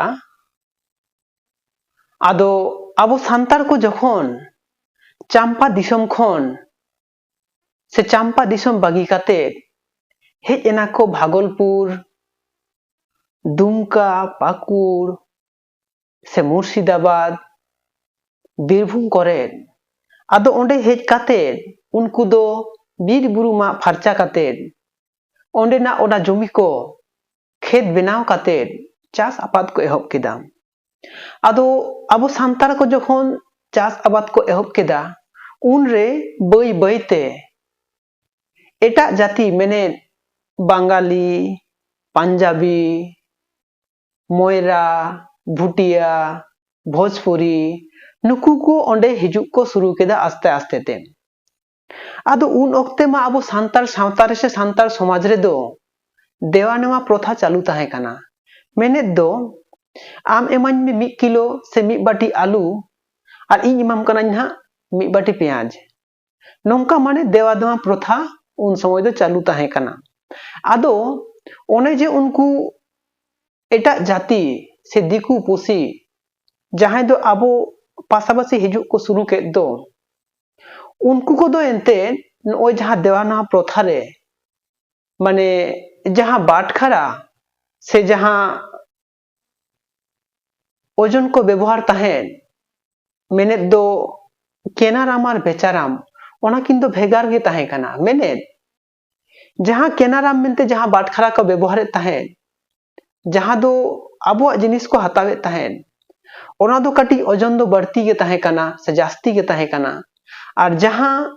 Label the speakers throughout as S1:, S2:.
S1: ᱫᱟᱲᱮᱭᱟᱜᱼᱟ ᱟᱫᱚ ᱟᱵᱚ ᱥᱟᱱᱛᱟᱲ ᱠᱚ ᱡᱚᱠᱷᱚᱱ ᱪᱟᱢᱯᱟ ᱫᱤᱥᱚᱢ ᱠᱷᱚᱱ ᱥᱮ ᱪᱟᱢᱯᱟ ᱫᱤᱥᱚᱢ ᱵᱟᱹᱜᱤ ᱠᱟᱛᱮ ᱦᱮᱡ ᱮᱱᱟ ᱠᱚ ᱵᱷᱟᱜᱚᱞᱯᱩᱨ ᱫᱩᱢᱠᱟ ᱯᱟᱹᱠᱩᱲ ᱥᱮ ᱢᱩᱨᱥᱤᱫᱟᱵᱟᱫᱽ ᱵᱤᱨᱵᱷᱩᱢ ᱠᱚᱨᱮ ᱟᱫᱚ ᱚᱸᱰᱮ ᱦᱮᱡ ᱠᱟᱛᱮ ᱩᱱᱠᱩ ᱫᱚ ᱵᱤᱨ ᱵᱩᱨᱩ ᱢᱟᱜ ᱯᱷᱟᱨᱪᱟ ᱠᱟᱛᱮ ᱚᱸᱰᱮᱱᱟᱜ ᱚᱱᱟ ᱡᱚᱢᱤ ᱠᱚ ᱠᱷᱮᱛ ᱵᱮᱱᱟᱣ ᱠᱟᱛᱮᱫ ᱪᱟᱥ ᱟᱵᱟᱫ ᱠᱚ ᱮᱦᱚᱵ ᱠᱮᱫᱟ ᱟᱫᱚ ᱟᱵᱚ ᱥᱟᱱᱛᱟᱲ ᱠᱚ ᱡᱚᱠᱷᱚᱱ ᱪᱟᱥ ᱟᱵᱟᱫ ᱠᱚ ᱮᱦᱚᱵ ᱠᱮᱫᱟ ᱩᱱᱨᱮ ᱵᱟᱹᱭ ᱵᱟᱹᱭᱛᱮ ᱮᱴᱟᱜ ᱡᱟᱹᱛᱤ ᱢᱮᱱᱮᱫ ᱵᱟᱝᱜᱟᱞᱤ ᱯᱟᱧᱡᱟᱵᱤ ᱢᱚᱭᱨᱟ ᱵᱷᱩᱴᱤᱭᱟ ᱵᱷᱳᱡᱽᱯᱩᱨᱤ ᱱᱩᱠᱩ ᱠᱚ ᱚᱸᱰᱮ ᱦᱤᱡᱩᱜ ᱠᱚ ᱥᱩᱨᱩ ᱠᱮᱫᱟ ᱟᱥᱛᱮ ᱟᱥᱛᱮ ᱛᱮ ᱟᱫᱚ ᱩᱱ ᱚᱠᱛᱮ ᱢᱟ ᱟᱵᱚ ᱥᱟᱱᱛᱟᱲ ᱥᱟᱶᱛᱟ ᱨᱮ ᱥᱮ ᱥᱟᱱᱛᱟᱲ ᱥᱚᱢᱟᱡᱽ ᱨᱮᱫᱚ ᱫᱮᱣᱟ ᱱᱮᱣᱟ ᱯᱨᱚᱛᱷᱟ ᱪᱟᱹᱞᱩ ᱛᱟᱦᱮᱸ ᱠᱟᱱᱟ ᱢᱮᱱᱮᱫ ᱫᱚ ᱟᱢ ᱮᱢᱟᱹᱧ ᱢᱮ ᱢᱤᱫ ᱠᱤᱞᱳ ᱥᱮ ᱢᱤᱫ ᱵᱟᱹᱴᱤ ᱟᱹᱞᱩ ᱟᱨ ᱤᱧ ᱮᱢᱟᱢ ᱠᱟᱹᱱᱟᱹᱧ ᱱᱟᱦᱟᱜ ᱢᱤᱫ ᱵᱟᱹᱴᱤ ᱯᱮᱸᱭᱟᱡᱽ ᱱᱚᱝᱠᱟ ᱢᱟᱱᱮ ᱫᱮᱣᱟ ᱱᱮᱣᱟ ᱯᱨᱚᱛᱷᱟ ᱩᱱ ᱥᱚᱢᱚᱭ ᱫᱚ ᱪᱟᱹᱞᱩ ᱛᱟᱦᱮᱸ ᱠᱟᱱᱟ ᱟᱫᱚ ᱚᱱᱮ ᱡᱮ ᱩᱱᱠᱩ ᱮᱴᱟᱜ ᱡᱟᱹᱛᱤ ᱥᱮ ᱫᱤᱠᱩ ᱯᱩᱥᱤ ᱡᱟᱦᱟᱸᱭ ᱫᱚ ᱟᱵᱚ ᱯᱟᱥᱟᱯᱟᱥᱤ ᱦᱤᱡᱩᱜ ᱠᱚ ᱥᱩᱨᱩ ᱠᱮᱫ ᱫᱚ ᱩᱱᱠᱩ ᱠᱚᱫᱚ ᱮᱱᱛᱮᱫ ᱱᱚᱜᱼᱚᱭ ᱡᱟᱦᱟᱸ ᱫᱮᱣᱟᱱᱟ ᱯᱨᱚᱛᱷᱟ ᱨᱮ ᱢᱟᱱᱮ ᱡᱟᱦᱟᱸ ᱵᱟᱴᱠᱷᱟᱨᱟ ᱥᱮ ᱡᱟᱦᱟᱸ ᱳᱡᱚᱱ ᱠᱚ ᱵᱮᱵᱚᱦᱟᱨ ᱛᱟᱦᱮᱸᱫ ᱢᱮᱱᱮᱫ ᱫᱚ ᱠᱮᱱᱟᱨᱟᱢ ᱟᱨ ᱵᱮᱪᱟᱨᱟᱢ ᱚᱱᱟ ᱠᱤᱱ ᱫᱚ ᱵᱷᱮᱜᱟᱨ ᱜᱮ ᱛᱟᱦᱮᱸ ᱠᱟᱱᱟ ᱢᱮᱱᱮᱫ ᱡᱟᱦᱟᱸ ᱠᱮᱱᱟᱨᱟᱢ ᱢᱮᱱᱛᱮ ᱡᱟᱦᱟᱸ ᱵᱟᱴᱠᱷᱟᱨᱟ ᱠᱚ ᱵᱮᱵᱚᱦᱟᱨᱮᱫ ᱛᱟᱦᱮᱸᱫ ᱡᱟᱦᱟᱸ ᱫᱚ ᱟᱵᱚᱣᱟᱜ ᱡᱤᱱᱤᱥ ᱠᱚ ᱦᱟᱛᱟᱣᱮᱫ ᱛᱟᱦᱮᱸᱫ ᱚᱱᱟ ᱫᱚ ᱠᱟᱹᱴᱤᱡ ᱳᱡᱚᱱ ᱫᱚ ᱵᱟᱹᱲᱛᱤ ᱜᱮ ᱛᱟᱦᱮᱸ ᱠᱟᱱᱟ ᱥᱮ ᱡᱟᱹᱥᱛᱤ ᱜᱮ ᱛᱟᱦᱮᱸ ᱠᱟᱱᱟ ᱟᱨ ᱡᱟᱦᱟᱸ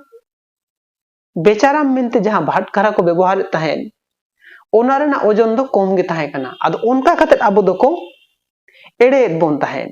S1: ᱵᱮᱪᱟᱨᱟᱢ ᱢᱮᱱᱛᱮ ᱡᱟᱦᱟᱸ ᱵᱷᱟᱴᱠᱷᱟᱨᱟ ᱠᱚ ᱵᱮᱵᱚᱦᱟᱨᱮᱫ ᱛᱟᱦᱮᱸᱫ ᱚᱱᱟ ᱨᱮᱱᱟᱜ ᱳᱡᱚᱱ ᱫᱚ ᱠᱚᱢ ᱜᱮ ᱛᱟᱦᱮᱸ ᱠᱟᱱᱟ ᱟᱫᱚ ᱚᱱᱠᱟ ᱠᱟᱛᱮᱫ ᱟᱵᱚ ᱫᱚᱠᱚ ᱮᱲᱮᱭᱮᱫ ᱵᱚᱱ ᱛᱟᱦᱮᱸᱫ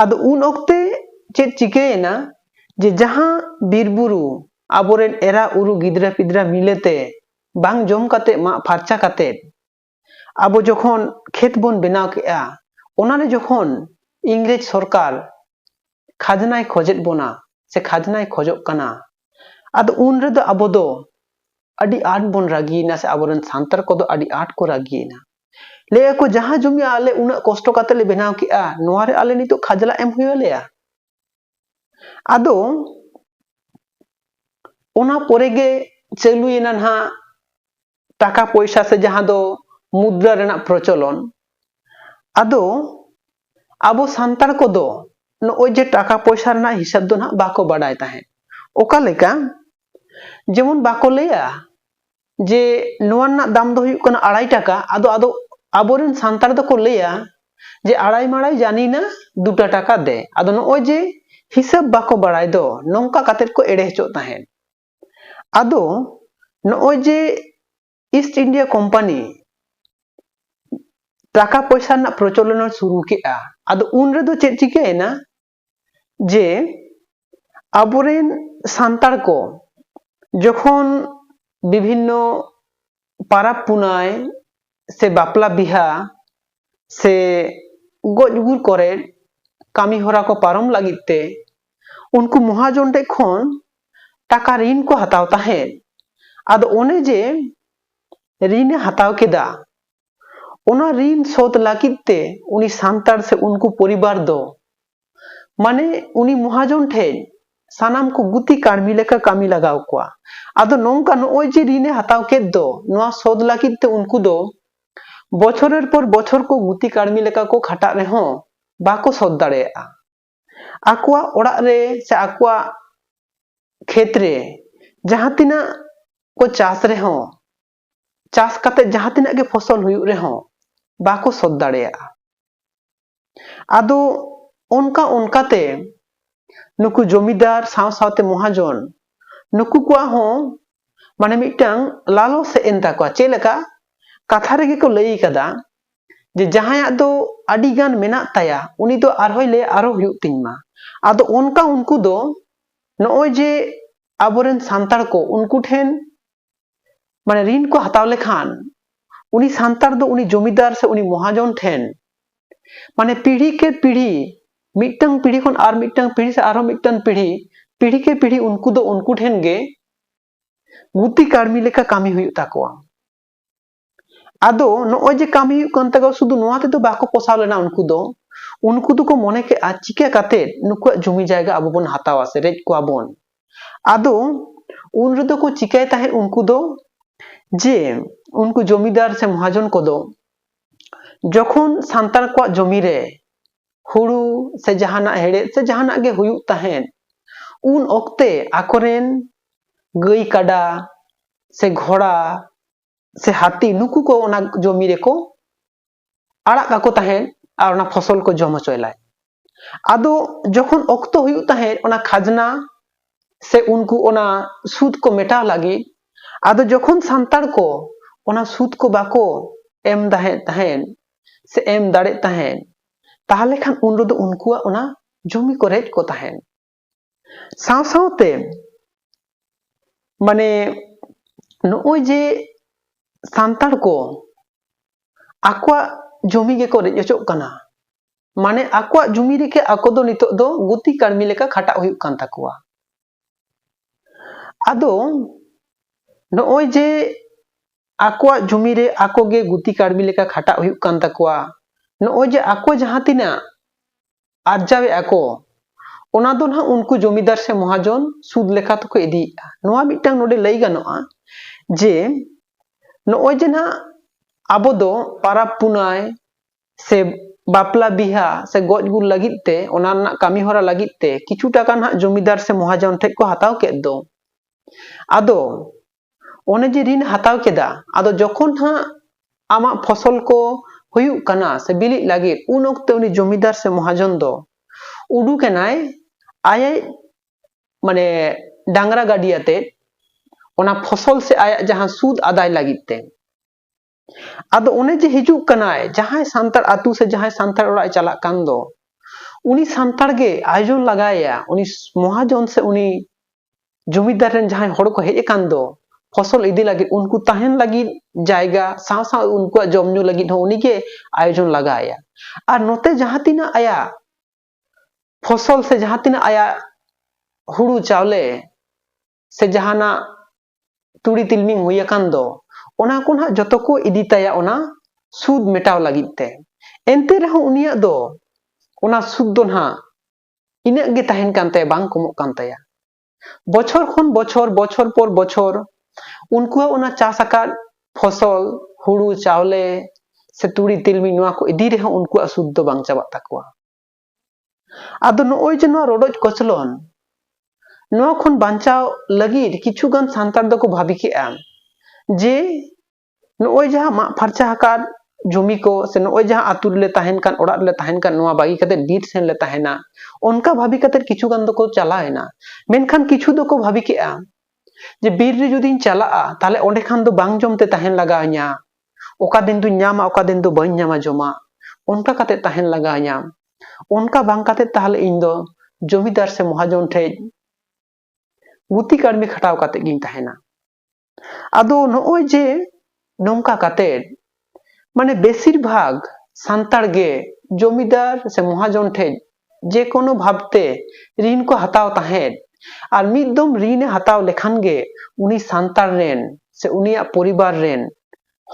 S1: ᱟᱫᱚ ᱩᱱ ᱚᱠᱛᱮ ᱪᱮᱫ ᱪᱤᱠᱟᱹᱭᱮᱱᱟ ᱡᱮ ᱡᱟᱦᱟᱸ ᱵᱤᱨ ᱵᱩᱨᱩ ᱟᱵᱚᱨᱮᱱ ᱮᱨᱟ ᱩᱨᱩ ᱜᱤᱫᱽᱨᱟᱹ ᱯᱤᱫᱽᱨᱟᱹ ᱢᱤᱞᱮᱛᱮ ᱵᱟᱝ ᱡᱚᱢ ᱠᱟᱛᱮ ᱢᱟᱜ ᱯᱷᱟᱨᱪᱟ ᱠᱟᱛᱮ ᱟᱵᱚ ᱡᱚᱠᱷᱚᱱ ᱠᱷᱮᱛ ᱵᱚᱱ ᱵᱮᱱᱟᱣ ᱠᱮᱜᱼᱟ ᱚᱱᱟᱨᱮ ᱡᱚᱠᱷᱚᱱ ᱤᱝᱨᱮᱡᱽ ᱥᱚᱨᱠᱟᱨ ᱠᱷᱟᱡᱽᱱᱟᱭ ᱠᱷᱚᱡᱮᱫ ᱵᱚᱱᱟ ᱥᱮ ᱠᱷᱟᱡᱽᱱᱟᱭ ᱠᱷᱚᱡᱚᱜ ᱠᱟᱱᱟ ᱟᱫᱚ ᱩᱱ ᱨᱮᱫᱚ ᱟᱵᱚ ᱫᱚ ᱟᱹᱰᱤ ᱟᱸᱴ ᱵᱚᱱ ᱨᱟᱹᱜᱤᱭᱮᱱᱟ ᱥᱮ ᱟᱵᱚᱨᱮᱱ ᱥᱟᱱᱛᱟᱲ ᱠᱚᱫᱚ ᱟᱹᱰᱤ ᱟᱸᱴ ᱠᱚ ᱨᱟᱹᱜᱤᱭᱮᱱᱟ ᱞᱟᱹᱭ ᱟᱠᱚ ᱡᱟᱦᱟᱸ ᱡᱚᱢᱤ ᱟᱞᱮ ᱩᱱᱟᱹᱜ ᱠᱚᱥᱴᱚ ᱠᱟᱛᱮ ᱞᱮ ᱵᱮᱱᱟᱣ ᱠᱮᱜᱼᱟ ᱱᱚᱣᱟ ᱨᱮ ᱟᱞᱮ ᱱᱤᱛᱚᱜ ᱠᱷᱟᱡᱽᱞᱟ ᱮᱢ ᱦᱩᱭ ᱟᱞᱮᱭᱟ ᱟᱫᱚ ᱚᱱᱟ ᱯᱚᱨᱮ ᱜᱮ ᱪᱟᱹᱞᱩᱭᱮᱱᱟ ᱱᱟᱦᱟᱜ ᱴᱟᱠᱟ ᱯᱚᱭᱥᱟ ᱥᱮ ᱡᱟᱦᱟᱸ ᱫᱚ ᱢᱩᱫᱽᱨᱟ ᱨᱮᱱᱟᱜ ᱯᱨᱚᱪᱚᱞᱚᱱ ᱟᱫᱚ ᱟᱵᱚ ᱥᱟᱱᱛᱟᱲ ᱠᱚᱫᱚ ᱱᱚᱜᱼᱚᱭ ᱡᱮ ᱴᱟᱠᱟ ᱯᱚᱭᱥᱟ ᱨᱮᱱᱟᱜ ᱦᱤᱥᱟᱹᱵ ᱫᱚ ᱱᱟᱦᱟᱜ ᱵᱟᱠᱚ ᱵᱟᱰᱟᱭ ᱛᱟᱦᱮᱸᱫ ᱚᱠᱟ ᱞᱮᱠᱟ ᱡᱮᱢᱚᱱ ᱵᱟᱠᱚ ᱞᱟᱹᱭᱟ ᱡᱮ ᱱᱚᱣᱟ ᱨᱮᱱᱟᱜ ᱫᱟᱢ ᱫᱚ ᱦᱩᱭᱩᱜ ᱠᱟᱱᱟ ᱟᱲᱟᱭ ᱴᱟᱠᱟ ᱟᱫᱚ ᱟᱫᱚ ᱟᱵᱚᱨᱮᱱ ᱥᱟᱱᱛᱟᱲ ᱫᱚᱠᱚ ᱞᱟᱹᱭᱟ ᱡᱮ ᱟᱲᱟᱭ ᱢᱟᱲᱟᱭ ᱡᱟᱱᱤᱱᱟ ᱫᱩᱴᱟ ᱴᱟᱠᱟ ᱫᱮ ᱟᱫᱚ ᱱᱚᱜᱼᱚᱭ ᱡᱮ ᱦᱤᱥᱟᱹᱵ ᱵᱟᱠᱚ ᱵᱟᱲᱟᱭ ᱫᱚ ᱱᱚᱝᱠᱟ ᱠᱟᱛᱮᱫ ᱠᱚ ᱮᱲᱮ ᱦᱚᱪᱚᱜ ᱛᱟᱦᱮᱸᱫ ᱟᱫᱚ ᱱᱚᱜᱼᱚᱭ ᱡᱮ ᱤᱥᱴ ᱤᱱᱰᱤᱭᱟ ᱠᱳᱢᱯᱟᱱᱤ ᱴᱟᱠᱟ ᱯᱚᱭᱥᱟ ᱨᱮᱱᱟᱜ ᱯᱨᱚᱪᱚᱞᱚᱱ ᱥᱩᱨᱩ ᱠᱮᱫᱼᱟ ᱟᱫᱚ ᱩᱱ ᱨᱮᱫᱚ ᱪᱮᱫ ᱪᱤᱠᱟᱹᱭᱮᱱᱟ ᱡᱮ ᱟᱵᱚᱨᱮᱱ ᱥᱟᱱᱛᱟᱲ ᱠᱚ ᱡᱚᱠᱷᱚᱱ ᱵᱤᱵᱷᱤᱱᱱᱚ ᱯᱟᱨᱟᱵᱽ ᱯᱩᱱᱟᱭ ᱥᱮ ᱵᱟᱯᱞᱟ ᱵᱤᱦᱟ ᱥᱮ ᱜᱚᱡ ᱜᱩᱨ ᱠᱚᱨᱮ ᱠᱟᱹᱢᱤ ᱦᱚᱨᱟ ᱠᱚ ᱯᱟᱨᱚᱢ ᱞᱟᱹᱜᱤᱫ ᱛᱮ ᱩᱱᱠᱩ ᱢᱚᱦᱟᱡᱚᱱ ᱴᱷᱮᱡ ᱠᱷᱚᱱ ᱴᱟᱠᱟ ᱨᱤᱱ ᱠᱚ ᱦᱟᱛᱟᱣ ᱛᱟᱦᱮᱸᱫ ᱟᱫᱚ ᱚᱱᱮ ᱡᱮ ᱨᱤᱱᱮ ᱦᱟᱛᱟᱣ ᱠᱮᱫᱟ ᱚᱱᱟ ᱨᱤᱱ ᱥᱳᱫᱷ ᱞᱟᱹᱜᱤᱫ ᱛᱮ ᱩᱱᱤ ᱥᱟᱱᱛᱟᱲ ᱥᱮ ᱩᱱᱠᱩ ᱯᱚᱨᱤᱵᱟᱨ ᱫᱚ ᱢᱟᱱᱮ ᱩᱱᱤ ᱢᱚᱦᱟᱡᱚᱱ ᱴᱷᱮᱡ ᱥᱟᱱᱟᱢ ᱠᱚ ᱜᱩᱛᱤ ᱠᱟᱹᱲᱢᱤ ᱞᱮᱠᱟ ᱠᱟᱹᱢᱤ ᱞᱟᱜᱟᱣ ᱠᱚᱣᱟ ᱟᱫᱚ ᱱᱚᱝᱠᱟ ᱱᱚᱜᱼᱚᱭ ᱡᱮ ᱨᱤᱱ ᱮ ᱦᱟᱛᱟᱣ ᱠᱮᱫ ᱫᱚ ᱱᱚᱣᱟ ᱥᱳᱫᱷ ᱞᱟᱹᱜᱤᱫ ᱛᱮ ᱩᱱᱠᱩ ᱫᱚ ᱵᱚᱪᱷᱚᱨᱮᱨ ᱯᱚᱨ ᱵᱚᱪᱷᱚᱨ ᱠᱚ ᱜᱩᱛᱤ ᱠᱟᱹᱲᱢᱤ ᱞᱮᱠᱟ ᱠᱚ ᱠᱷᱟᱴᱟᱜ ᱨᱮᱦᱚᱸ ᱵᱟᱠᱚ ᱥᱳᱫᱷ ᱫᱟᱲᱮᱭᱟᱜᱼᱟ ᱟᱠᱚᱣᱟᱜ ᱚᱲᱟᱜ ᱨᱮ ᱥᱮ ᱟᱠᱚᱣᱟᱜ ᱠᱷᱮᱛ ᱨᱮ ᱡᱟᱦᱟᱸ ᱛᱤᱱᱟᱹᱜ ᱠᱚ ᱪᱟᱥ ᱨᱮᱦᱚᱸ ᱪᱟᱥ ᱠᱟᱛᱮ ᱡᱟᱦᱟᱸ ᱛᱤᱱᱟᱹᱜ ᱜᱮ ᱯᱷᱚᱥᱚᱞ ᱦᱩᱭᱩᱜ ᱨᱮᱦᱚᱸ ᱵᱟᱠᱚ ᱥᱚᱫ ᱫᱟᱲᱮᱭᱟᱜᱼᱟ ᱟᱫᱚ ᱚᱱᱠᱟ ᱚᱱᱠᱟᱛᱮ ᱱᱩᱠᱩ ᱡᱚᱢᱤᱫᱟᱨ ᱥᱟᱶ ᱥᱟᱶᱛᱮ ᱢᱚᱦᱟᱡᱚᱱ ᱱᱩᱠᱩ ᱠᱚᱣᱟᱜ ᱦᱚᱸ ᱢᱟᱱᱮ ᱢᱤᱫᱴᱟᱝ ᱞᱟᱞᱚ ᱥᱮᱫ ᱮᱱ ᱛᱟᱠᱚᱣᱟ ᱪᱮᱫ ᱞᱮᱠᱟ ᱠᱟᱛᱷᱟ ᱨᱮᱜᱮ ᱠᱚ ᱞᱟᱹᱭ ᱠᱟᱫᱟ ᱡᱮ ᱡᱟᱦᱟᱸᱭᱟᱜ ᱫᱚ ᱟᱹᱰᱤ ᱜᱟᱱ ᱢᱮᱱᱟᱜ ᱛᱟᱭᱟ ᱩᱱᱤ ᱫᱚ ᱟᱨᱦᱚᱸᱭ ᱞᱟᱹᱭᱟ ᱟᱨᱦᱚᱸ ᱦᱩᱭᱩᱜ ᱛᱤᱧ ᱢᱟ ᱟᱫᱚ ᱚᱱᱠᱟ ᱩᱱᱠᱩ ᱫᱚ ᱱᱚᱜᱼᱚᱭ ᱡᱮ ᱟᱵᱚᱨᱮᱱ ᱥᱟᱱᱛᱟᱲ ᱠᱚ ᱩᱱᱠᱩ ᱴᱷᱮᱱ ᱢᱟᱱᱮ ᱨᱤᱱ ᱠᱚ ᱦᱟᱛᱟᱣ ᱞᱮᱠᱷᱟᱱ ᱩᱱᱤ ᱥᱟᱱᱛᱟᱲ ᱫᱚ ᱩᱱᱤ ᱡᱚᱢᱤᱫᱟᱨ ᱥᱮ ᱩᱱᱤ ᱢᱚᱦᱟᱡᱚᱱ ᱴᱷᱮᱱ ᱢᱟᱱᱮ ᱯᱤᱲᱦᱤ ᱠᱮ ᱯᱤᱲᱦᱤ ᱢᱤᱫᱴᱟᱝ ᱯᱤᱲᱦᱤ ᱠᱷᱚᱱ ᱟᱨ ᱢᱤᱫᱴᱟᱝ ᱯᱤᱲᱦᱤ ᱥᱮ ᱟᱨᱦᱚᱸ ᱢᱤᱫᱴᱟᱝ ᱯᱤᱲᱦᱤ ᱯᱤᱲᱦᱤ ᱠᱮ ᱯᱤᱲᱦᱤ ᱩᱱᱠᱩ ᱫᱚ ᱩᱱᱠᱩ ᱴᱷᱮᱱ ᱜᱮ ᱜᱩᱛᱤ ᱠᱟᱹᱲᱢᱤ ᱞᱮᱠᱟ ᱠᱟᱹᱢᱤ ᱦᱩᱭᱩᱜ ᱛᱟᱠᱚᱣᱟ ᱟᱫᱚ ᱱᱚᱜᱼᱚᱭ ᱡᱮ ᱠᱟᱹᱢᱤ ᱦᱩᱭᱩᱜ ᱠᱟᱱ ᱛᱟᱠᱚᱣᱟ ᱥᱩᱫᱷᱩ ᱱᱚᱣᱟ ᱛᱮᱫᱚ ᱵᱟᱠᱚ ᱯᱚᱥᱟᱣ ᱞᱮᱱᱟ ᱩᱱᱠᱩ ᱫᱚ ᱩᱱᱠᱩ ᱫᱚᱠᱚ ᱢᱚᱱᱮ ᱠᱮᱜᱼᱟ ᱪᱤᱠᱟᱹ ᱠᱟᱛᱮᱫ ᱱᱩᱠᱩᱣᱟᱜ ᱡᱚᱢᱤ ᱡᱟᱭᱜᱟ ᱟᱵᱚ ᱵᱚᱱ ᱦᱟᱛᱟᱣᱟ ᱥᱮ ᱨᱮᱡ ᱠᱚᱣᱟ ᱵᱚᱱ ᱟᱫᱚ ᱩᱱ ᱨᱮᱫᱚ ᱠᱚ ᱪᱤᱠᱟᱹᱭ ᱛᱟᱦᱮᱸᱫ ᱩᱱᱠᱩ ᱫᱚ ᱡᱮ ᱩᱱᱠᱩ ᱡᱚᱢᱤᱫᱟᱨ ᱥᱮ ᱢᱚᱦᱟᱡᱚᱱ ᱠᱚᱫᱚ ᱡᱚᱠᱷᱚᱱ ᱥᱟᱱᱛᱟᱲ ᱠᱚᱣᱟᱜ ᱡᱚᱢᱤ ᱨᱮ ᱦᱩᱲᱩ ᱥᱮ ᱡᱟᱦᱟᱱᱟᱜ ᱦᱮᱲᱦᱮᱫ ᱥᱮ ᱡᱟᱦᱟᱱᱟᱜ ᱜᱮ ᱦᱩᱭᱩᱜ ᱛᱟᱦᱮᱸᱫ ᱩᱱ ᱚᱠᱛᱮ ᱟᱠᱚᱨᱮᱱ ᱜᱟᱹᱭ ᱠᱟᱰᱟ ᱥᱮ ᱜᱷᱚᱲᱟ ᱥᱮ ᱦᱟᱹᱛᱤ ᱱᱩᱠᱩ ᱠᱚ ᱚᱱᱟ ᱡᱚᱢᱤ ᱨᱮᱠᱚ ᱟᱲᱟᱜ ᱠᱟᱠᱚ ᱛᱟᱦᱮᱸᱫ ᱟᱨ ᱚᱱᱟ ᱯᱷᱚᱥᱚᱞ ᱠᱚ ᱡᱚᱢ ᱦᱚᱪᱚᱭ ᱞᱟᱡ ᱟᱫᱚ ᱡᱚᱠᱷᱚᱱ ᱚᱠᱛᱚ ᱦᱩᱭᱩᱜ ᱛᱟᱦᱮᱸᱫ ᱚᱱᱟ ᱠᱷᱟᱡᱽᱱᱟ ᱥᱮ ᱩᱱᱠᱩ ᱚᱱᱟ ᱥᱩᱫ ᱠᱚ ᱢᱮᱴᱟᱣ ᱞᱟᱹᱜᱤᱫ ᱟᱫᱚ ᱡᱚᱠᱷᱚᱱ ᱥᱟᱱᱛᱟᱲ ᱠᱚ ᱚᱱᱟ ᱥᱩᱫ ᱠᱚ ᱵᱟᱠᱚ ᱮᱢ ᱫᱟᱦᱮᱸᱫ ᱛᱟᱦᱮᱸᱫ ᱥᱮ ᱮᱢ ᱫᱟᱲᱮᱜ ᱛᱟᱦᱮᱸᱫ ᱛᱟᱦᱚᱞᱮ ᱠᱷᱟᱱ ᱩᱱ ᱨᱮᱫᱚ ᱩᱱᱠᱩᱣᱟᱜ ᱚᱱᱟ ᱡᱚᱢᱤ ᱠᱚ ᱨᱮᱡ ᱠᱚ ᱛᱟᱦᱮᱸᱫ ᱥᱟᱶ ᱥᱟᱶᱛᱮ ᱢᱟᱱᱮ ᱱᱚᱜᱼᱚᱭ ᱡᱮ ᱥᱟᱱᱛᱟᱲ ᱠᱚ ᱟᱠᱚᱣᱟᱜ ᱡᱚᱢᱤ ᱜᱮᱠᱚ ᱨᱮᱡ ᱦᱚᱪᱚᱜ ᱠᱟᱱᱟ ᱢᱟᱱᱮ ᱟᱠᱚᱣᱟᱜ ᱡᱚᱢᱤ ᱨᱮᱜᱮ ᱟᱠᱚ ᱫᱚ ᱱᱤᱛᱚᱜ ᱫᱚ ᱜᱩᱛᱤ ᱠᱟᱹᱲᱢᱤ ᱞᱮᱠᱟ ᱠᱷᱟᱴᱟᱜ ᱦᱩᱭᱩᱜ ᱠᱟᱱ ᱛᱟᱠᱚᱣᱟ ᱟᱫᱚ ᱱᱚᱜᱼᱚᱭ ᱡᱮ ᱟᱠᱚᱣᱟᱜ ᱡᱚᱢᱤ ᱨᱮ ᱟᱠᱚ ᱜᱮ ᱜᱩᱛᱤ ᱠᱟᱹᱲᱢᱤ ᱞᱮᱠᱟ ᱠᱷᱟᱴᱟᱜ ᱦᱩᱭᱩᱜ ᱠᱟᱱ ᱛᱟᱠᱚᱣᱟ ᱱᱚᱜᱼᱚᱭ ᱡᱮ ᱟᱠᱚ ᱡᱟᱦᱟᱸ ᱛᱤᱱᱟᱹᱜ ᱟᱨᱡᱟᱣᱮᱫᱼᱟ ᱠᱚ ᱚᱱᱟ ᱫᱚ ᱱᱟᱦᱟᱜ ᱩᱱᱠᱩ ᱡᱚᱢᱤᱫᱟᱨ ᱥᱮ ᱢᱚᱦᱟᱡᱚᱱ ᱥᱩᱫ ᱞᱮᱠᱟ ᱛᱮᱠᱚ ᱤᱫᱤᱭᱮᱫᱼᱟ ᱱᱚᱣᱟ ᱢᱤᱫᱴᱟᱝ ᱱᱚᱰᱮ ᱞᱟᱹᱭ ᱜᱟᱱᱚᱜᱼᱟ ᱡᱮ ᱱᱚᱜᱼᱚᱭ ᱡᱮ ᱱᱟᱦᱟᱜ ᱟᱵᱚ ᱫᱚ ᱯᱟᱨᱟᱵᱽ ᱯᱩᱱᱟᱭ ᱥᱮ ᱵᱟᱯᱞᱟ ᱵᱤᱦᱟ ᱥᱮ ᱜᱚᱡ ᱜᱩᱨ ᱞᱟᱹᱜᱤᱫ ᱛᱮ ᱚᱱᱟ ᱨᱮᱱᱟᱜ ᱠᱟᱹᱢᱤ ᱦᱚᱨᱟ ᱞᱟᱹᱜᱤᱫ ᱛᱮ ᱠᱤᱪᱷᱩ ᱴᱟᱠᱟ ᱱᱟᱦᱟᱜ ᱡᱚᱢᱤᱫᱟᱨ ᱥᱮ ᱢᱚᱦᱟᱡᱚᱱ ᱴᱷᱮᱡ ᱠᱚ ᱦᱟᱛᱟᱣ ᱠᱮᱫ ᱫᱚ ᱟᱫᱚ ᱚᱱᱮ ᱡᱮ ᱨᱤᱱ ᱦᱟᱛᱟᱣ ᱠᱮᱫᱟ ᱟᱫᱚ ᱡᱚᱠᱷᱚᱱ ᱦᱟᱸᱜ ᱟᱢᱟᱜ ᱯᱷᱚᱥᱚᱞ ᱠᱚ ᱦᱩᱭᱩᱜ ᱠᱟᱱᱟ ᱥᱮ ᱵᱤᱞᱤᱜ ᱞᱟᱹᱜᱤᱫ ᱩᱱ ᱚᱠᱛᱮ ᱩᱱᱤ ᱡᱚᱢᱤᱫᱟᱨ ᱥᱮ ᱢᱚᱦᱟᱡᱚᱱ ᱫᱚ ᱩᱰᱩᱠ ᱮᱱᱟᱭ ᱟᱡ ᱢᱟᱱᱮ ᱰᱟᱝᱨᱟ ᱜᱟᱹᱰᱤ ᱟᱛᱮᱫ ᱚᱱᱟ ᱯᱷᱚᱥᱚᱞ ᱥᱮ ᱟᱭᱟᱜ ᱡᱟᱦᱟᱸ ᱥᱩᱫ ᱟᱫᱟᱭ ᱞᱟᱹᱜᱤᱫ ᱛᱮ ᱟᱫᱚ ᱚᱱᱮ ᱡᱮ ᱦᱤᱡᱩᱜ ᱠᱟᱱᱟᱭ ᱡᱟᱦᱟᱸᱭ ᱥᱟᱱᱛᱟᱲ ᱟᱛᱳ ᱥᱮ ᱡᱟᱦᱟᱸᱭ ᱥᱟᱱᱛᱟᱲ ᱚᱲᱟᱜ ᱮ ᱪᱟᱞᱟᱜ ᱠᱟᱱ ᱫᱚ ᱩᱱᱤ ᱥᱟᱱᱛᱟᱲ ᱜᱮ ᱟᱭᱳᱡᱚᱱ ᱞᱟᱜᱟᱭᱮᱭᱟ ᱩᱱᱤ ᱢᱚᱦᱟᱡᱚᱱ ᱥᱮ ᱩᱱᱤ ᱡᱚᱢᱤᱫᱟᱨ ᱨᱮᱱ ᱡᱟᱦᱟᱸᱭ ᱦᱚᱲ ᱠᱚ ᱦᱮᱡ ᱟᱠᱟᱱ ᱫᱚ ᱯᱷᱚᱥᱚᱞ ᱤᱫᱤ ᱞᱟᱹᱜᱤᱫ ᱩᱱᱠᱩ ᱛᱟᱦᱮᱱ ᱞᱟᱹᱜᱤᱫ ᱡᱟᱭᱜᱟ ᱥᱟᱶ ᱥᱟᱶ ᱩᱱᱠᱩᱣᱟᱜ ᱡᱚᱢ ᱧᱩ ᱞᱟᱹᱜᱤᱫ ᱦᱚᱸ ᱩᱱᱤᱜᱮ ᱟᱭᱳᱡᱚᱱ ᱞᱟᱜᱟᱭᱮᱭᱟ ᱟᱨ ᱱᱚᱛᱮ ᱡᱟᱦᱟᱸ ᱛᱤᱱᱟᱹᱜ ᱟᱭᱟᱜ ᱯᱷᱚᱥᱚᱞ ᱥᱮ ᱡᱟᱦᱟᱸ ᱛᱤᱱᱟᱹᱜ ᱟᱭᱟᱜ ᱦᱩᱲᱩ ᱪᱟᱣᱞᱮ ᱥᱮ ᱡᱟᱦᱟᱱᱟᱜ ᱛᱩᱲᱤ ᱛᱤᱞᱢᱤᱧ ᱦᱩᱭ ᱟᱠᱟᱱ ᱫᱚ ᱚᱱᱟ ᱠᱚ ᱱᱟᱦᱟᱜ ᱡᱚᱛᱚ ᱠᱚ ᱤᱫᱤ ᱛᱟᱭᱟ ᱚᱱᱟ ᱥᱩᱫ ᱢᱮᱴᱟᱣ ᱞᱟᱹᱜᱤᱫ ᱛᱮ ᱮᱱᱛᱮ ᱨᱮᱦᱚᱸ ᱩᱱᱤᱭᱟᱜ ᱫᱚ ᱚᱱᱟ ᱥᱩᱫ ᱫᱚ ᱱᱟᱦᱟᱜ ᱤᱱᱟᱹᱜ ᱜᱮ ᱛᱟᱦᱮᱱ ᱠᱟᱱ ᱛᱟᱭᱟ ᱵᱟᱝ ᱠᱚᱢᱚᱜ ᱠᱟᱱ ᱛᱟᱭᱟ ᱵᱚᱪᱷᱚᱨ ᱠᱷᱚᱱ ᱵᱚᱪᱷᱚᱨ ᱵᱚᱪᱷᱚᱨ ᱯᱚᱨ ᱵᱚᱪᱷᱚᱨ ᱩᱱᱠᱩᱣᱟᱜ ᱚᱱᱟ ᱪᱟᱥ ᱟᱠᱟᱫ ᱯᱷᱚᱥᱚᱞ ᱦᱩᱲᱩ ᱪᱟᱣᱞᱮ ᱥᱮ ᱛᱩᱲᱤ ᱛᱤᱞᱢᱤᱧ ᱱᱚᱣᱟ ᱠᱚ ᱤᱫᱤ ᱨᱮᱦᱚᱸ ᱩᱱᱠᱩᱣᱟᱜ ᱥᱩᱫ ᱫᱚ ᱵᱟᱝ ᱪᱟᱵᱟᱜ ᱛᱟᱠᱚᱣᱟ ᱟᱫᱚ ᱱᱚᱜᱼᱚᱭ ᱡᱮ ᱱᱚᱣᱟ ᱨᱚᱰᱚᱡ ᱠᱚᱪᱞᱚᱱ ᱱᱚᱣᱟ ᱠᱷᱚᱱ ᱵᱟᱧᱪᱟᱣ ᱞᱟᱹᱜᱤᱫ ᱠᱤᱪᱷᱩᱜᱟᱱ ᱥᱟᱱᱛᱟᱲ ᱫᱚᱠᱚ ᱵᱷᱟᱵᱤ ᱠᱮᱫᱼᱟ ᱡᱮ ᱱᱚᱜᱼᱚᱭ ᱡᱟᱦᱟᱸ ᱢᱟᱜ ᱯᱷᱟᱨᱪᱟ ᱟᱠᱟᱫ ᱡᱚᱢᱤ ᱠᱚ ᱥᱮ ᱱᱚᱜᱼᱚᱭ ᱡᱟᱦᱟᱸ ᱟᱛᱳ ᱨᱮᱞᱮ ᱛᱟᱦᱮᱱ ᱠᱟᱱ ᱚᱲᱟᱜ ᱨᱮᱞᱮ ᱛᱟᱦᱮᱱ ᱠᱟᱱ ᱱᱚᱣᱟ ᱵᱟᱹᱜᱤ ᱠᱟᱛᱮ ᱵᱤᱨ ᱥᱮᱱ ᱞᱮ ᱛᱟᱦᱮᱱᱟ ᱚᱱᱠᱟ ᱵᱷᱟᱵᱤ ᱠᱟᱛᱮ ᱠᱤᱪᱷᱩ ᱜᱟᱱ ᱫᱚᱠᱚ ᱪᱟᱞᱟᱣ ᱮᱱᱟ ᱢᱮᱱᱠᱷᱟᱱ ᱠᱤᱪᱷᱩ ᱫᱚᱠᱚ ᱵᱷᱟᱵᱤ ᱠᱮᱫᱼᱟ ᱡᱮ ᱵᱤᱨ ᱨᱮ ᱡᱩᱫᱤᱧ ᱪᱟᱞᱟᱜᱼᱟ ᱛᱟᱦᱞᱮ ᱚᱸᱰᱮ ᱠᱷᱟᱱ ᱫᱚ ᱵᱟᱝ ᱡᱚᱢ ᱛᱮ ᱛᱟᱦᱮᱱ ᱞᱟᱜᱟᱣ ᱤᱧᱟ ᱚᱠᱟ ᱫᱤᱱ ᱫᱚᱧ ᱧᱟᱢᱟ ᱚᱠᱟ ᱫᱤᱱ ᱫᱚ ᱵᱟᱹᱧ ᱧᱟᱢᱟ ᱡᱚᱢᱟᱜ ᱚᱱᱠᱟ ᱠᱟᱛᱮᱫ ᱛᱟᱦᱮᱱ ᱞᱟᱜᱟᱣ ᱤᱧᱟ ᱚᱱᱠᱟ ᱵᱟᱝ ᱠᱟᱛᱮᱫ ᱛᱟᱦᱚᱞᱮ ᱤᱧ ᱫᱚ ᱡᱚᱢᱤᱫᱟᱨ ᱥᱮ ᱢᱚᱦᱟᱡᱚᱱ ᱴᱷᱮᱡ ᱜᱩᱛᱤ ᱠᱟᱹᱲᱢᱤ ᱠᱷᱟᱴᱟᱣ ᱠᱟᱛᱮᱫ ᱜᱤᱧ ᱛᱟᱦᱮᱱᱟ ᱟᱫᱚ ᱱᱚᱜᱼᱚᱭ ᱡᱮ ᱱᱚᱝᱠᱟ ᱠᱟᱛᱮᱫ ᱢᱟᱱᱮ ᱵᱮᱥᱤᱨ ᱵᱷᱟᱜᱽ ᱥᱟᱱᱛᱟᱲ ᱜᱮ ᱡᱚᱢᱤᱫᱟᱨ ᱥᱮ ᱢᱚᱦᱟᱡᱚᱱ ᱴᱷᱮᱡ ᱡᱮᱠᱳᱱᱳ ᱵᱷᱟᱵᱽ ᱛᱮ ᱨᱤᱱ ᱠᱚ ᱦᱟᱛᱟᱣ ᱛᱟᱦᱮᱸᱫ ᱟᱨ ᱢᱤᱫ ᱫᱚᱢ ᱨᱤᱱᱮ ᱦᱟᱛᱟᱣ ᱞᱮᱠᱷᱟᱱ ᱜᱮ ᱩᱱᱤ ᱥᱟᱱᱛᱟᱲ ᱨᱮᱱ ᱥᱮ ᱩᱱᱤᱭᱟᱜ ᱯᱚᱨᱤᱵᱟᱨ ᱨᱮᱱ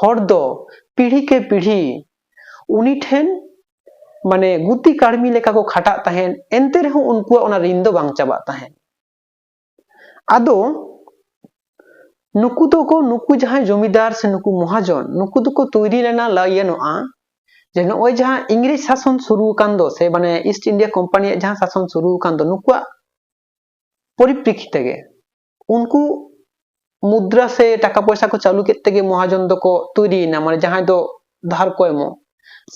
S1: ᱦᱚᱲ ᱫᱚ ᱯᱤᱲᱦᱤ ᱠᱮ ᱯᱤᱲᱦᱤ ᱩᱱᱤ ᱴᱷᱮᱱ ᱢᱟᱱᱮ ᱜᱩᱛᱤ ᱠᱟᱹᱲᱢᱤ ᱞᱮᱠᱟ ᱠᱚ ᱠᱷᱟᱴᱟᱜ ᱛᱟᱦᱮᱸᱫ ᱮᱱᱛᱮ ᱨᱮᱦᱚᱸ ᱩᱱᱠᱩᱣᱟᱜ ᱚᱱᱟ ᱨᱤᱱ ᱫᱚ ᱵᱟᱝ ᱪᱟᱵᱟᱜ ᱛᱟᱦᱮᱸᱫ ᱟᱫᱚ ᱱᱩᱠᱩ ᱫᱚᱠᱚ ᱱᱩᱠᱩ ᱡᱟᱦᱟᱸᱭ ᱡᱚᱢᱤᱫᱟᱨ ᱥᱮ ᱱᱩᱠᱩ ᱢᱚᱦᱟᱡᱚᱱ ᱱᱩᱠᱩ ᱫᱚᱠᱚ ᱛᱚᱭᱨᱤ ᱞᱮᱱᱟ ᱞᱟᱹᱭ ᱜᱟᱱᱚᱜᱼᱟ ᱡᱮ ᱱᱚᱜᱼᱚᱭ ᱡᱟᱦᱟᱸ ᱤᱝᱨᱮᱡᱽ ᱥᱟᱥᱚᱱ ᱥᱩᱨᱩ ᱟᱠᱟᱱ ᱫᱚ ᱥᱮ ᱢᱟᱱᱮ ᱤᱥᱴ ᱤᱱᱰᱤᱭᱟ ᱠᱳᱢᱯᱟᱱᱤᱭᱟᱜ ᱡᱟᱦᱟᱸ ᱥᱟᱥᱚᱱ ᱥᱩᱨᱩ ᱟᱠᱟᱱ ᱫᱚ ᱱᱩᱠᱩᱣᱟᱜ ᱯᱚᱨᱤᱯᱨᱮᱠᱠᱷᱤᱛ ᱛᱮᱜᱮ ᱩᱱᱠᱩ ᱢᱩᱫᱽᱨᱟ ᱥᱮ ᱴᱟᱠᱟ ᱯᱚᱭᱥᱟ ᱠᱚ ᱪᱟᱹᱞᱩ ᱠᱮᱫ ᱛᱮᱜᱮ ᱢᱚᱦᱟᱡᱚᱱ ᱫᱚᱠᱚ ᱛᱚᱭᱨᱤᱭᱮᱱᱟ ᱢᱟᱱᱮ ᱡᱟᱦᱟᱸᱭ ᱫᱚ ᱫᱷᱟᱨ ᱠᱚ ᱮᱢᱚᱜ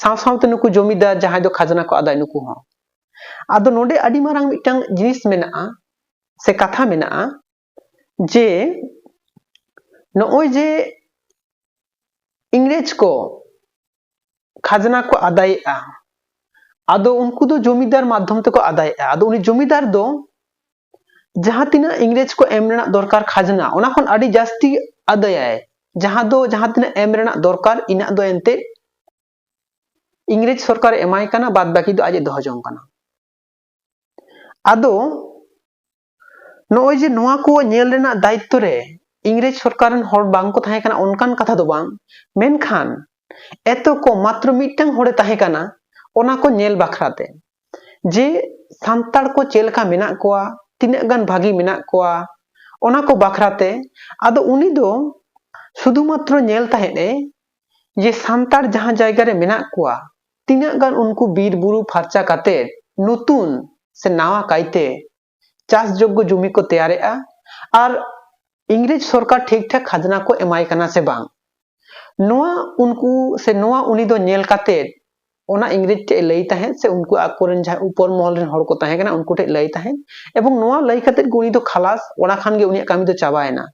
S1: ᱥᱟᱶ ᱥᱟᱶᱛᱮ ᱱᱩᱠᱩ ᱡᱚᱢᱤᱫᱟᱨ ᱡᱟᱦᱟᱸᱭ ᱫᱚ ᱠᱷᱟᱡᱽᱱᱟ ᱠᱚ ᱟᱫᱟᱭ ᱱᱩᱠᱩ ᱦᱚᱸ ᱟᱫᱚ ᱱᱚᱰᱮ ᱟᱹᱰᱤ ᱢᱟᱨᱟᱝ ᱢᱤᱫᱴᱟᱝ ᱡᱤᱱᱤᱥ ᱢᱮᱱᱟᱜᱼᱟ ᱥᱮ ᱠᱟᱛᱷᱟ ᱢᱮᱱᱟᱜᱼᱟ ᱡᱮ ᱱᱚᱜᱼᱚᱭ ᱡᱮ ᱤᱝᱨᱮᱡᱽ ᱠᱚ ᱠᱷᱟᱡᱽᱱᱟ ᱠᱚ ᱟᱫᱟᱭᱮᱜᱼᱟ ᱟᱫᱚ ᱩᱱᱠᱩ ᱫᱚ ᱡᱚᱢᱤᱫᱟᱨ ᱢᱟᱫᱽᱫᱷᱚᱢ ᱛᱮᱠᱚ ᱟᱫᱟᱭᱮᱜᱼᱟ ᱟᱫᱚ ᱩᱱᱤ ᱡᱚᱢᱤᱫᱟᱨ ᱫᱚ ᱡᱟᱦᱟᱸ ᱛᱤᱱᱟᱹᱜ ᱤᱝᱨᱮᱡᱽ ᱠᱚ ᱮᱢ ᱨᱮᱱᱟᱜ ᱫᱚᱨᱠᱟᱨ ᱠᱷᱟᱡᱽᱱᱟ ᱚᱱᱟ ᱠᱷᱚᱱ ᱟᱹᱰᱤ ᱡᱟᱹᱥᱛᱤ ᱟᱫᱟᱭᱟᱭ ᱡᱟᱦᱟᱸ ᱫᱚ ᱡᱟᱦᱟᱸ ᱛᱤᱱᱟᱹᱜ ᱮᱢ ᱨᱮᱱᱟᱜ ᱫᱚᱨᱠᱟᱨ ᱤᱱᱟᱹᱜ ᱫᱚ ᱮᱱᱛᱮᱫ ᱤᱝᱨᱮᱡᱽ ᱥᱚᱨᱠᱟᱨ ᱮᱢᱟᱭ ᱠᱟᱱᱟ ᱵᱟᱫ ᱵᱟᱹᱠᱤ ᱫᱚ ᱟᱡ ᱮ ᱫᱚᱦᱚ ᱡᱚᱝ ᱠᱟᱱᱟ ᱟᱫᱚ ᱱᱚᱜᱼᱚᱭ ᱡᱮ ᱱᱚᱣᱟ ᱠᱚ ᱧᱮᱞ ᱨᱮᱱᱟᱜ ᱫᱟᱭᱤᱛᱛᱚ ᱨᱮ ᱤᱝᱨᱮᱡᱽ ᱥᱚᱨᱠᱟᱨ ᱨᱮᱱ ᱦᱚᱲ ᱵᱟᱝ ᱠᱚ ᱛᱟᱦᱮᱸ ᱠᱟᱱᱟ ᱚᱱᱠᱟᱱ ᱠᱟᱛᱷᱟ ᱫᱚ ᱵᱟᱝ ᱢᱮᱱᱠᱷᱟᱱ ᱮᱛᱚ ᱠᱚ ᱢᱟᱛᱨᱚ ᱢᱤᱫᱴᱟᱝ ᱦᱚᱲᱮ ᱛᱟᱦᱮᱸ ᱠᱟᱱᱟ ᱚᱱᱟ ᱠᱚ ᱧᱮᱞ ᱵᱟᱠᱷᱨᱟ ᱛᱮ ᱡᱮ ᱥᱟᱱᱛᱟᱲ ᱠᱚ ᱪᱮᱫ ᱞᱮᱠᱟ ᱢᱮᱱᱟᱜ ᱠᱚᱣᱟ ᱛᱤᱱᱟᱹᱜ ᱜᱟᱱ ᱵᱷᱟᱹᱜᱤ ᱢᱮᱱᱟᱜ ᱠᱚᱣᱟ ᱚᱱᱟ ᱠᱚ ᱵᱟᱠᱷᱨᱟ ᱛᱮ ᱟᱫᱚ ᱩᱱᱤ ᱫᱚ ᱥᱩᱫᱷᱩ ᱢᱟᱛᱨᱚ ᱧᱮᱞ ᱛᱟᱦᱮᱸᱫ ᱮ ᱡᱮ ᱥᱟᱱᱛᱟᱲ ᱡᱟᱦᱟᱸ ᱡᱟᱭᱜᱟ ᱨᱮ ᱢᱮᱱᱟᱜ ᱠᱚᱣᱟ ᱛᱤᱱᱟᱹᱜ ᱜᱟᱱ ᱩᱱᱠᱩ ᱵᱤᱨ ᱵᱩᱨᱩ ᱯᱷᱟᱨᱪᱟ ᱠᱟᱛᱮ ᱱᱩᱛᱩᱱ ᱥᱮ ᱱᱟᱣᱟ ᱠᱟᱭᱛᱮ ᱪᱟᱥ ᱡᱳᱜᱽᱜᱚ ᱡᱚᱢᱤ ᱠᱚ ᱛᱮᱭᱟᱨᱮᱜᱼᱟ ᱟᱨ ᱤᱝᱨᱮᱡᱽ ᱥᱚᱨᱠᱟᱨ ᱴᱷᱤᱠ ᱴᱷᱟᱠ ᱠᱷᱟᱡᱽᱱᱟ ᱠᱚ ᱮᱢᱟᱭ ᱠᱟᱱᱟ ᱥᱮ ᱵᱟᱝ ᱱᱚᱣᱟ ᱩᱱᱠᱩ ᱥᱮ ᱱᱚᱣᱟ ᱩᱱᱤ ᱫᱚ ᱧᱮᱞ ᱠᱟᱛᱮ ᱚᱱᱟ ᱤᱝᱨᱮᱡᱽ ᱴᱷᱮᱡ ᱞᱟᱹᱭ ᱛᱟᱦᱮᱸᱫ ᱥᱮ ᱩᱱᱠᱩ ᱟᱠᱚᱨᱮᱱ ᱡᱟᱦᱟᱸ ᱩᱯᱚᱨ ᱢᱚᱦᱚᱞ ᱨᱮᱱ ᱦᱚᱲ ᱠᱚ ᱛᱟᱦᱮᱸ ᱠᱟᱱᱟ ᱩᱱᱠᱩ ᱴᱷᱮᱡ ᱞᱟᱹᱭ ᱛᱟᱦᱮᱸᱫ ᱮᱵᱚᱝ ᱱᱚᱣᱟ ᱞᱟᱹᱭ ᱠᱟᱛᱮ ᱜᱮ ᱩᱱᱤ ᱫᱚ ᱠᱷᱟᱞᱟᱥ ᱚᱱᱟ ᱠᱷᱟᱱ ᱜᱮ ᱩᱱᱤᱭᱟᱜ ᱠᱟᱹᱢᱤ ᱫᱚ ᱪᱟᱵᱟᱭᱮᱱᱟ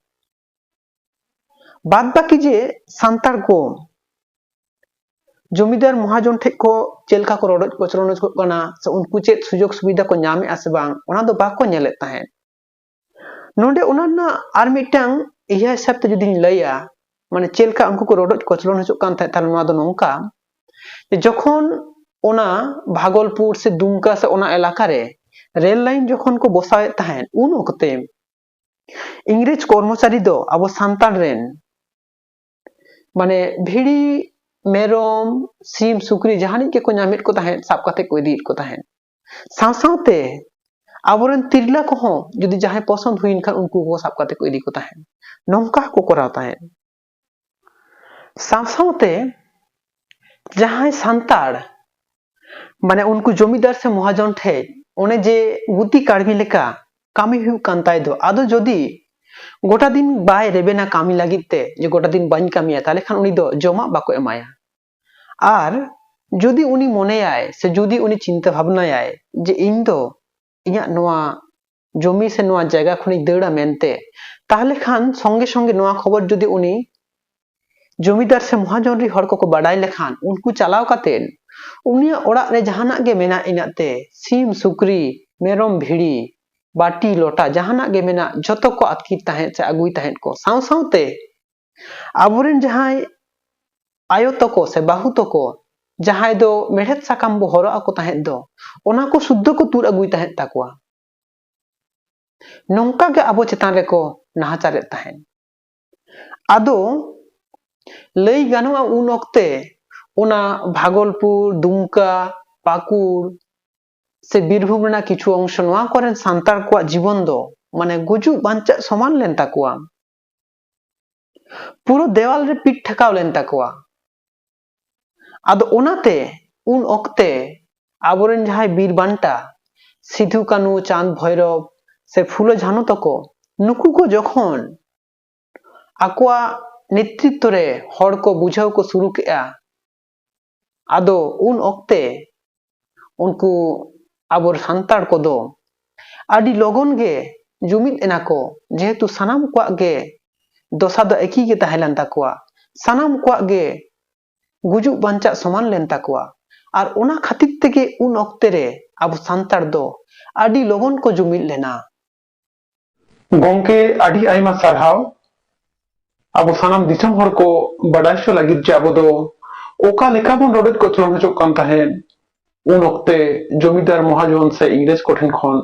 S1: ᱵᱟᱫ ᱵᱟᱹᱠᱤ ᱡᱮ ᱥᱟᱱᱛᱟᱲ ᱠᱚ ᱡᱚᱢᱤᱫᱟᱨ ᱢᱚᱦᱟᱡᱚᱱ ᱴᱷᱮᱱ ᱠᱚ ᱪᱮᱫ ᱞᱮᱠᱟ ᱠᱚ ᱨᱚᱰᱚᱡ ᱠᱚᱪᱞᱚᱱ ᱠᱚᱜ ᱠᱟᱱᱟ ᱥᱮ ᱩᱱᱠᱩ ᱪᱮᱫ ᱥᱩᱡᱳᱜᱽ ᱥᱩᱵᱤᱫᱷᱟ ᱠᱚ ᱧᱟᱢ ᱮᱫᱟ ᱥᱮ ᱵᱟᱝ ᱚᱱᱟ ᱫᱚ ᱵᱟᱠᱚ ᱧᱮᱞᱮᱫ ᱛᱟᱦᱮᱸᱫ ᱱᱚᱰᱮ ᱚᱱᱟ ᱨᱮᱱᱟᱜ ᱟᱨ ᱢᱤᱫᱴᱟᱝ ᱤᱭᱟᱹ ᱦᱤᱥᱟᱹᱵ ᱛᱮ ᱡᱩᱫᱤᱧ ᱞᱟᱹᱭᱟ ᱢᱟᱱᱮ ᱪᱮᱫ ᱞᱮᱠᱟ ᱩᱱᱠᱩ ᱠᱚ ᱨᱚᱰᱚᱡ ᱠᱚᱪᱞᱚᱱ ᱦᱚᱪᱚᱜ ᱠᱟᱱ ᱛᱟᱦᱮᱸᱫ ᱛᱟᱦᱚᱞᱮ ᱱᱚᱣᱟ ᱫᱚ ᱱᱚᱝᱠᱟ ᱡᱚᱠᱷᱚᱱ ᱚᱱᱟ ᱵᱷᱟᱜᱚᱞᱯᱩᱨ ᱥᱮ ᱫᱩᱢᱠᱟ ᱥᱮ ᱚᱱᱟ ᱮᱞᱟᱠᱟ ᱨᱮ ᱨᱮᱞ ᱞᱟᱭᱤᱱ ᱡᱚᱠᱷᱚᱱ ᱠᱚ ᱵᱚᱥᱟᱣᱮᱫ ᱛᱟᱦᱮᱸᱫ ᱩᱱ ᱚᱠᱛᱮ ᱤᱝᱨᱮᱡᱽ ᱠᱚᱨᱢᱚᱪᱟᱨᱤ ᱫᱚ ᱟᱵᱚ ᱥᱟᱱᱛᱟᱲ ᱨᱮᱱ ᱢᱟᱱᱮ ᱵᱷᱤᱲᱤ ᱢᱮᱨᱚᱢ ᱥᱤᱢ ᱥᱩᱠᱨᱤ ᱡᱟᱦᱟᱱᱤᱡ ᱜᱮᱠᱚ ᱧᱟᱢᱮᱫ ᱠᱚ ᱛᱟᱦᱮᱸᱫ ᱥᱟᱵ ᱠᱟᱛᱮ ᱠᱚ ᱤᱫᱤᱭᱮᱫ ᱠᱚ ᱛᱟᱦᱮᱸᱫ ᱥᱟᱶ ᱥᱟᱶᱛᱮ ᱟᱵᱚᱨᱮᱱ ᱛᱤᱨᱞᱟᱹ ᱠᱚᱦᱚᱸ ᱡᱩᱫᱤ ᱡᱟᱦᱟᱸᱭ ᱯᱚᱥᱚᱱᱫ ᱦᱩᱭᱮᱱ ᱠᱷᱟᱱ ᱩᱱᱠᱩ ᱠᱚ ᱥᱟᱵ ᱠᱟᱛᱮ ᱠᱚ ᱤᱫᱤ ᱠᱚ ᱛᱟᱦᱮᱸᱫ ᱱᱚᱝᱠᱟ ᱦᱚᱸᱠᱚ ᱠᱚᱨᱟᱣ ᱛᱟᱦᱮᱸᱫ ᱥᱟᱶ ᱥᱟᱶᱛᱮ ᱡᱟᱦᱟᱸᱭ ᱥᱟᱱᱛᱟᱲ ᱢᱟᱱᱮ ᱩᱱᱠᱩ ᱡᱚᱢᱤᱫᱟᱨ ᱥᱮ ᱢᱚᱦᱟᱡᱚᱱ ᱴᱷᱮᱡ ᱚᱱᱮ ᱡᱮ ᱜᱩᱛᱤ ᱠᱟᱹᱲᱢᱤ ᱞᱮᱠᱟ ᱠᱟᱹᱢᱤ ᱦᱩᱭᱩᱜ ᱠᱟᱱ ᱛᱟᱭ ᱫᱚ ᱟᱫᱚ ᱡᱩᱫᱤ ᱜᱚᱴᱟ ᱫᱤᱱ ᱵᱟᱭ ᱨᱮᱵᱮᱱᱟ ᱠᱟᱹᱢᱤ ᱞᱟᱹᱜᱤᱫ ᱛᱮ ᱡᱮ ᱜᱚᱴᱟ ᱫᱤᱱ ᱵᱟᱹᱧ ᱠᱟᱹᱢᱤᱭᱟ ᱛᱟᱦᱞᱮ ᱠᱷᱟᱱ ᱩᱱᱤ ᱫᱚ ᱡᱚᱢᱟᱜ ᱵᱟᱠᱚ ᱮᱢᱟᱭᱟ ᱟᱨ ᱡᱩᱫᱤ ᱩᱱᱤ ᱢᱚᱱᱮᱭᱟᱭ ᱥᱮ ᱡᱩᱫᱤ ᱩᱱᱤ ᱪᱤᱱᱛᱟᱹ ᱵᱷᱟᱵᱽᱱᱟᱭᱟᱭ ᱡᱮ ᱤᱧ ᱫᱚ ᱤᱧᱟᱹᱜ ᱱᱚᱣᱟ ᱡᱚᱢᱤ ᱥᱮ ᱱᱚᱣᱟ ᱡᱟᱭᱜᱟ ᱠᱷᱚᱱᱤᱧ ᱫᱟᱹᱲᱟ ᱢᱮᱱᱛᱮ ᱛᱟᱦᱚᱞᱮ ᱠᱷᱟᱱ ᱥᱚᱸᱜᱮ ᱥᱚᱸᱜᱮ ᱱᱚᱣᱟ ᱠᱷᱚᱵᱚᱨ ᱡᱩᱫᱤ ᱩᱱᱤ ᱡᱚᱢᱤᱫᱟᱨ ᱥᱮ ᱢᱚᱦᱟᱡᱚᱱ ᱨᱮ ᱦᱚᱲ ᱠᱚᱠᱚ ᱵᱟᱰᱟᱭ ᱞᱮᱠᱷᱟᱱ ᱩᱱᱠᱩ ᱪᱟᱞᱟᱣ ᱠᱟᱛᱮ ᱩᱱᱤᱭᱟᱜ ᱚᱲᱟᱜ ᱨᱮ ᱡᱟᱦᱟᱱᱟᱜ ᱜᱮ ᱢᱮᱱᱟᱜ ᱤᱱᱟᱹᱜ ᱛᱮ ᱥᱤᱢ ᱥᱩᱠᱨᱤ ᱢᱮᱨᱚᱢ ᱵᱷᱤᱲᱤ ᱵᱟᱹᱴᱤ ᱞᱚᱴᱟ ᱡᱟᱦᱟᱱᱟᱜ ᱜᱮ ᱢᱮᱱᱟᱜ ᱡᱷᱚᱛᱚ ᱠᱚ ᱟᱛᱠᱤᱨ ᱛᱟᱦᱮᱸᱫ ᱥᱮ ᱟᱹᱜᱩᱭ ᱛᱟᱦᱮᱸᱫ ᱠᱚ ᱥᱟᱶ ᱥᱟᱶᱛᱮ ᱟᱵᱚᱨᱮᱱ ᱡᱟᱦᱟᱸᱭ ᱟᱭᱳ ᱛᱟᱠᱚ ᱥᱮ ᱵᱟᱹᱦᱩ ᱛᱟᱠᱚ ᱡᱟᱦᱟᱸᱭ ᱫᱚ ᱢᱮᱲᱦᱮᱫ ᱥᱟᱠᱟᱢ ᱵᱚ ᱦᱚᱨᱚᱜ ᱟᱠᱚ ᱛᱟᱦᱮᱸᱫ ᱫᱚ ᱚᱱᱟ ᱠᱚ ᱥᱩᱫᱽᱫᱷᱚ ᱠᱚ ᱛᱩᱫ ᱟᱹᱜᱩᱭ ᱛᱟᱦᱮᱸᱫ ᱛᱟᱠᱚᱣᱟ ᱱᱚᱝᱠᱟ ᱜᱮ ᱟᱵᱚ ᱪᱮᱛᱟᱱ ᱨᱮᱠᱚ ᱱᱟᱦᱟᱪᱟᱨᱮᱫ ᱛᱟᱦᱮᱸᱫ ᱟᱫᱚ ᱞᱟᱹᱭ ᱜᱟᱱᱚᱜᱼᱟ ᱩᱱ ᱚᱠᱛᱮ ᱚᱱᱟ ᱵᱷᱟᱜᱚᱞᱯᱩᱨ ᱫᱩᱢᱠᱟ ᱯᱟᱹᱠᱩᱲ ᱥᱮ ᱵᱤᱨᱵᱷᱩᱢ ᱨᱮᱱᱟᱜ ᱠᱤᱪᱷᱩ ᱚᱝᱥᱚ ᱱᱚᱣᱟ ᱠᱚᱨᱮᱱ ᱥᱟᱱᱛᱟᱲ ᱠᱚᱣᱟᱜ ᱡᱤᱵᱚᱱ ᱫᱚ ᱢᱟᱱᱮ ᱜᱩᱡᱩᱜ ᱵᱟᱧᱪᱟᱜ ᱥᱚᱢᱟᱱ ᱞᱮᱱ ᱛᱟᱠᱚᱣᱟ ᱯᱩᱨᱟᱹ ᱫᱮᱣᱟᱞ ᱨᱮ ᱯᱤᱴ ᱴᱷᱮᱠᱟᱣ ᱞᱮᱱ ᱛᱟᱠᱚᱣᱟ ᱟᱫᱚ ᱚᱱᱟᱛᱮ ᱩᱱ ᱚᱠᱛᱮ ᱟᱵᱚᱨᱮᱱ ᱡᱟᱦᱟᱸᱭ ᱵᱤᱨ ᱵᱟᱱᱴᱟ ᱥᱤᱫᱷᱩ ᱠᱟᱹᱱᱩ ᱪᱟᱸᱫᱽ ᱵᱷᱳᱭᱨᱚᱵ ᱥᱮ ᱯᱷᱩᱞᱚ ᱡᱷᱟᱱᱚ ᱛᱟᱠᱚ ᱱᱩᱠᱩ ᱠᱚ ᱡᱚᱠᱷᱚᱱ ᱟᱠᱚᱣᱟᱜ ᱱᱮᱛᱨᱤᱛᱛᱚ ᱨᱮ ᱦᱚᱲ ᱠᱚ ᱵᱩᱡᱷᱟᱹᱣ ᱠᱚ ᱥᱩᱨᱩ ᱠᱮᱜᱼᱟ ᱟᱫᱚ ᱩᱱ ᱚᱠᱛᱮ ᱩᱱᱠᱩ ᱟᱵᱚ ᱥᱟᱱᱛᱟᱲ ᱠᱚᱫᱚ ᱟᱹᱰᱤ ᱞᱚᱜᱚᱱ ᱜᱮ ᱡᱩᱢᱤᱫ ᱮᱱᱟ ᱠᱚ ᱡᱮᱦᱮᱛᱩ ᱥᱟᱱᱟᱢ ᱠᱚᱣᱟᱜ ᱜᱮ ᱫᱚᱥᱟ ᱫᱚ ᱮᱠᱤ ᱜᱮ ᱛᱟᱦᱮᱸ ᱞᱮᱱ ᱛᱟᱠᱚᱣᱟ ᱥᱟᱱᱟᱢ ᱠᱚᱣᱟᱜ ᱜᱮ ᱜᱩᱡᱩᱜ ᱵᱟᱧᱪᱟᱜ ᱥᱚᱢᱟᱱ ᱞᱮᱱ ᱛᱟᱠᱚᱣᱟ ᱟᱨ ᱚᱱᱟ ᱠᱷᱟᱹᱛᱤᱨ ᱛᱮᱜᱮ ᱩᱱ ᱚᱠᱛᱮ ᱨᱮ ᱟᱵᱚ ᱥᱟᱱᱛᱟᱲ ᱫᱚ ᱟᱹᱰᱤ ᱞᱚᱜᱚᱱ ᱠᱚ ᱡᱩᱢᱤᱫ ᱞᱮᱱᱟ ᱜᱚᱝᱠᱮ ᱟᱹᱰᱤ ᱟᱭᱢᱟ ᱥᱟᱨᱦᱟᱣ ᱟᱵᱚ ᱥᱟᱱᱟᱢ ᱫᱤᱥᱚᱢ ᱦᱚᱲ ᱠᱚ ᱵᱟᱰᱟᱭ ᱦᱚᱪᱚ ᱞᱟᱹᱜᱤᱫ ᱡᱮ ᱟᱵᱚ ᱫᱚ ᱚᱠᱟ ᱞᱮᱠᱟ ᱵᱚᱱ ᱨᱚᱰᱚᱡ ᱠᱚᱪᱞᱚᱱ ᱦᱚᱪᱚᱜ ᱠᱟᱱ ᱛᱟᱦᱮᱸᱫ ᱩᱱ ᱚᱠᱛᱮ ᱡᱚᱢᱤᱫᱟᱨ ᱢᱚᱦᱟᱡᱚᱱ ᱥᱮ ᱤᱝᱨᱮᱡᱽ ᱠᱚᱴᱷᱮᱱ ᱠᱷᱚᱱ